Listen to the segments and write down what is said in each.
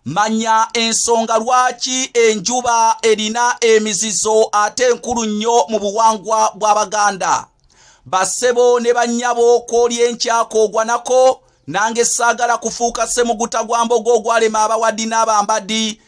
manya ensonga lwaki enjuba erina emizizo ate enkulu nnyo mu buwangwa bw'abaganda bassebo ne bannyabo kwoli enkyaka ogwanako nange saagala kufuuka semuguta gwa mbogo ogwalema abawadi n'abambadi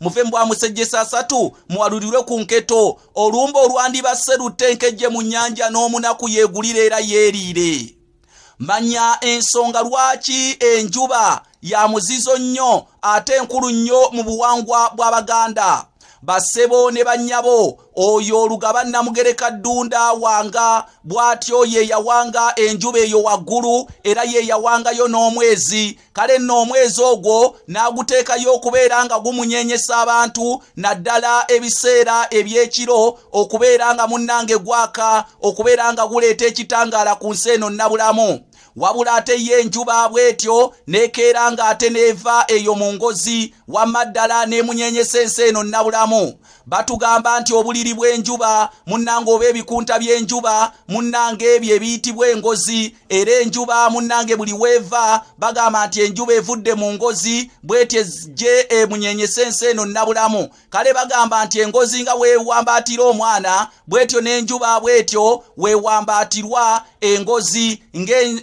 muve mbwa musejjesa asatu mwalulirwe ku nketo olumba olwandibasse lutta enkejje mu nnyanja n'omunaku yeegulira era yeeriire manya ensonga lwaki enjuba ya muzizo nnyo ate enkulu nnyo mu buwangwa bw'abaganda basebo ne bannyabo oyo olugaba namugereka ddunda wanga bw'atyo ye yawanga enjuba eyo waggulu era ye yawangayo n'omwezi kale nno omwezi ogwo n'aguteekayo okubeera nga gumunyenyesa abantu naddala ebiseera eby'ekiro okubeera nga munnange gwaka okubeera nga guleeta ekitangaala ku nsi eno nnabulamu wabula ate ye enjuba bw'etyo n'ekeera ng'ate n'eva eyo mu ngozi wamma ddala n'emunyenyesa ensi eno nnabulamu Batugamba nti obuliri bw'enjuba munnange oba ebikunta by'enjuba munnange ebyo ebiyitibwa engozi era enjuba munnange buli weeva bagamba nti enjuba evudde mu ngozi bwetyo ejje emunyenyesa ensi eno nnabulamu kale bagamba nti engozi nga weewambaatira omwana bwetyo n'enjuba bwetyo wewambaatirwa engozi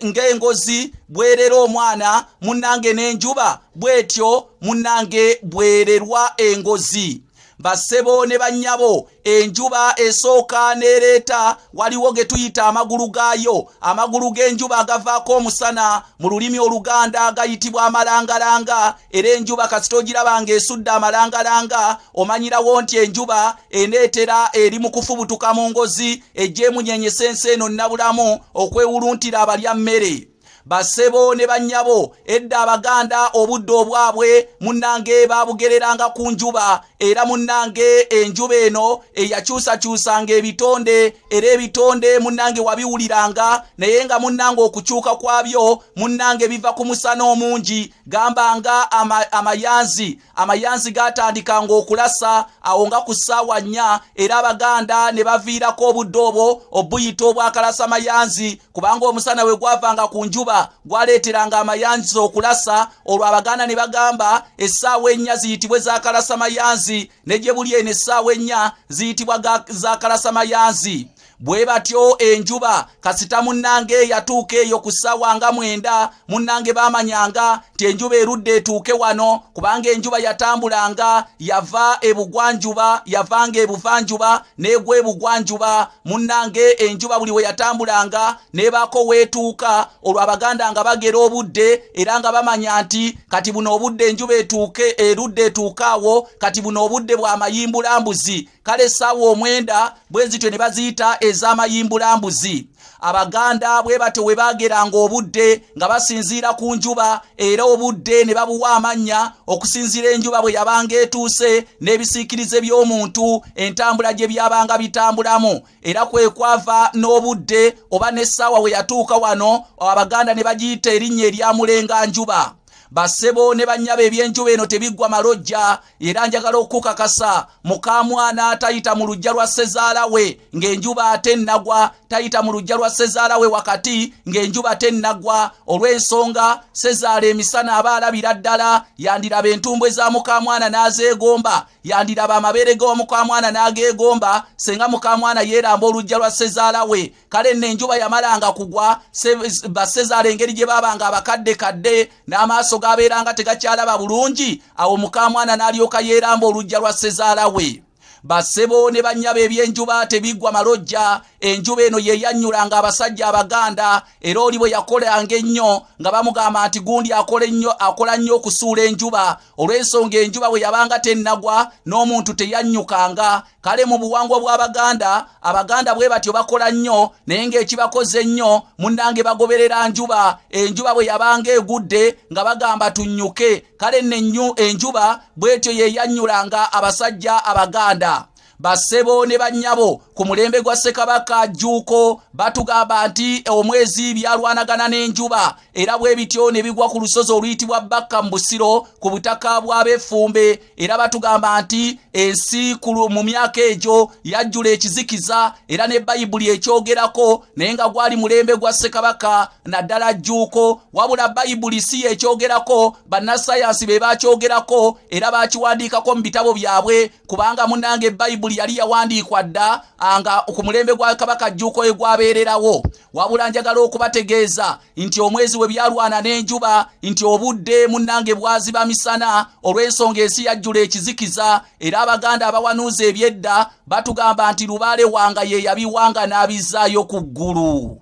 ng'engozi bwerera omwana munnange n'enjuba bwetyo munnange bwererwa engozi bassebo ne bannyabo enjuba esooka n'ereeta waliwo ge tuyita amagulu gaayo amagulu g'enjuba agavaako omusana mu lulimi oluganda gayitibwa amalangalanga era enjuba kasita ogiraba ng'esudde amalangalanga omanyirawo nti enjuba eneetera eri mu kufubutuka mu ngozi egy'emunyenyesa ensi eno nnabulamu okwewuluntira abalya mmere basebo ne bannyabo edda abaganda obudde obwabwe munnange baabugereranga ku njuba era munnange enjuba eno eyakyusakyusanga ebitonde era ebitonde munnange wabiwuliranga naye nga munnange okukyuka kwabyo munnange biva ku musana omungi gamba nga ama, amayanzi amayanzi gaatandikanga okulasa awo nga ku ssaawa nnya era abaganda ne baviirako obudde obwo obuyita obwakalasa mayanzi kubanga omusana we gwavanga ku njuba gwaleeteranga amayanzi okulasa olwo abaganda ne bagamba essaawa ennya ziyitibwe zakalasa mayanzi ne gye buli eno essaawa ennya ziyitibwa zakalasa mayanzi bwe batyo enjuba kasita munnange eyatuuka eyo ku ssaawa nga mwenda munnange baamanyanga nti enjuba erudde etuuke wano kubanga enjuba yatambulanga yava ebugwanjuba yavanga ebuvanjuba n'egwa ebugwanjuba munnange enjuba buli we yatambulanga n'ebaako weetuuka olwo abaganda nga bagera obudde era nga bamanya nti kati buno obudde enjuba etuuke erudde etuuke awo kati buno obudde bwa mayimbulambuzi kale essaawa omwenda bwe zityo ne baziyita ez'amayimbulambuzi abaganda bwe batyo we baageranga obudde nga basinziira ku njuba era obudde ne babuwa amannya okusinziira enjuba bwe yabanga etuuse n'ebisiikirize by'omuntu entambula gye byabanga bitambulamu era kwe kwava n'obudde oba n'essaawa we yatuuka wano abaganda ne bagiyita erinnya eryamulenga njuba basebo ne banyaba ebyenjuba eno tebiggwa malojja era njagala okukakasa mukamwana atayita mu lujja lwa sezaala we ng'enjuba ate nnagwa tayita mu lujja lwa sezaala we wakati ng'enjuba te nnagwa olw'ensonga sezaala emisana aba alabira ddala yandiraba entumbwe za mukamwana n'azeegomba yandiraba amabeere g'omukamwana n'ageegomba senga mukamwana yeeramba olujja lwa sezaala we kale nno enjuba yamalanga kugwa basezaala engeri gye baabanga abakadde kadde n'amaaso gaabeeranga tegakyalaba bulungi awo mukamwana n'alyoka yeeramba olujja lwa sezaala we basebo ne bannyabo ebyenjuba tebiggwa malojja enjuba eno ye yannyulanga abasajja abaganda era oli bwe yakolanga ennyo nga bamugamba nti gundi akola ennyo akola nnyo okusuula enjuba olw'ensonga enjuba bwe yabanga tennagwa n'omuntu teyannyukanga kale mu buwangwa bw'abaganda abaganda bwe batyo bakola nnyo naye ng'ekibakoze ennyo munnange bagoberera njuba enjuba bwe yabanga egudde nga bagamba tunnyuke kale nenyu enjuba bw'etyo yeeyannyulanga abasajja abaganda bassebo ne bannyabo ku mulembe gwa ssekabaka jjuuko batugamba nti omwezi byalwanagana n'enjuba era bwe bityo ne bigwa ku lusozi oluyitibwa bakka mu busiro ku butaka bw'abefumbe era batugamba nti ensi mu myaka egyo yajjula ekizikiza era ne bayibuli ekyogerako naye nga gwali mulembe gwa ssekabaka naddala jjuuko wabula bayibuli si yekyogerako bannasayansi be bakyogerako era bakiwandiikako mu bitabo byabwe kubanga munange bayibuli yali yawandiikwa dda nga ku mulembe gwa kabaka jjuuko egwabeererawo wabula njagala okubategeeza nti omwezi we byalwana n'enjuba nti obudde munnange bwaziba misana olw'ensonga ensi yajjula ekizikiza era abaganda abawanuuza ebyedda batugamba nti lubaale wanga ye yabiwanga n'abizzaayo ku ggulu